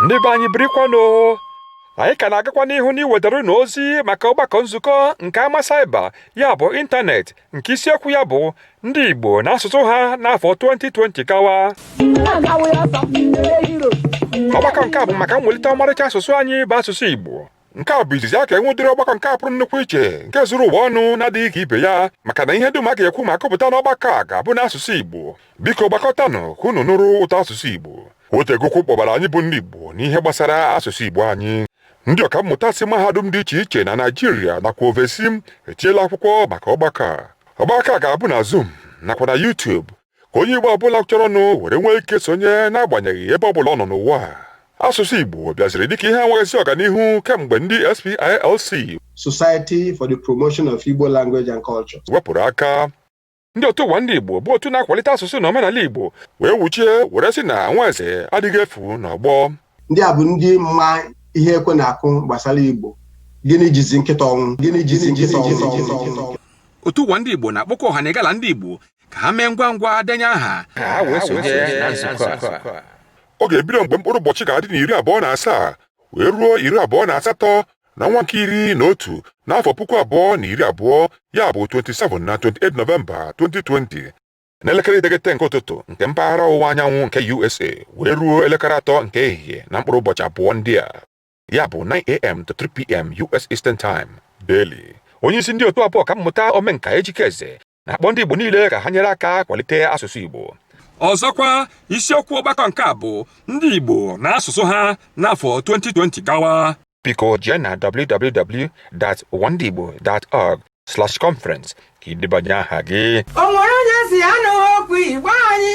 ndị be anyị birikwanụ anyị ka na-agakwa n'ihu n'iwetara unu ozi maka ọgbakọ nzukọ nke ama saịba ya bụ ịntanetị nke isiokwu ya bụ ndị Igbo na asụsụ ha n'afọ 2020 gawa ọgbakọ nke a bụ maka mwelite ọmarịcha asụsụ anyị bụ asụsụ Igbo nke a bụ izizi ya a ga-enwe ụdịrị ọgbakọ nke a pụrụ nnukwu iche nke zuru ụwa ọnụ na-adịghị ka ibe ya maka na ihe dum a ga-ekwu ma akọpụta n'ọgbakọ a ga-abụ n'asụsụ Igbo biko gbakọtanụ ka unu nụrụ ụtọ asụsụ Igbo o tego ụkwụ kpọbara anyị bụ ndị Igbo n'ihe gbasara asụsụ Igbo anyị ndị ọkammụta si mahadum dị iche iche na Naịjirịa nakwa ovesi etiela akwụkwọ maka ọgbakọ a ọgbakọ a ga-abụ na Zoom nakwa na YouTube ka onye Igbo ọ bụla chọrọnụ were nwee ike sonye n'agbanyeghị ebe ọ bụla ọ nọ n'ụwa asụsụ Igbo bịaziri dịka ihe enweghịzi ọganihu kemgbe ndị SPILC Society for the Promotion of Igbo Language and Culture wepụrụ aka ndị otu ụwa ndị Igbo bụ otu na-akwalite asụsụ na omenala Igbo wee wụchie were sị na nwa eze adịghị efu n'ọgbọ ndị a bụ ndị ma ihe ekwe na-akụ gbasara Igbo gịnị jizi nkịta ọnwụ gịnị jizi nkịta ọnwụ otu ụwa ndị Igbo na-akpọkọ ọha na egala ndị Igbo ka ha mee ngwa ngwa denye aha ka ha wee sonye na nzukọ a ọ ga-ebido mgbe mkpụrụ ụbọchị ga-adị n'iri abụọ na asaa wee ruo iri abụọ na asatọ na ọnwa nke iri na otu n'afọ puku abụọ na iri abụọ ya bụ 27 na 28 nọvemba 2020 n'elekere iteghete nke ụtụtụ nke mpaghara ọwụwa anyanwụ nke USA wee ruo elekere atọ nke ehihie na mkpụrụ ụbọchị abụọ ndị a ya bụ 9am to 3pm US eastern time daily onye isi ndị otu a bụ ọkammụta omenka Ejike Eze na-akpọ ndị Igbo niile ka ha nyere aka kwalite asụsụ Igbo ọzọkwa isiokwu ọgbakọ nke a bụ ndị Igbo na asụsụ ha n'afọ 2020 gawa biko jee na www.uwandiigbo.org slash conference ka i debanye aha gị o nwere onye sị ya anụghị okwu Igbo anyị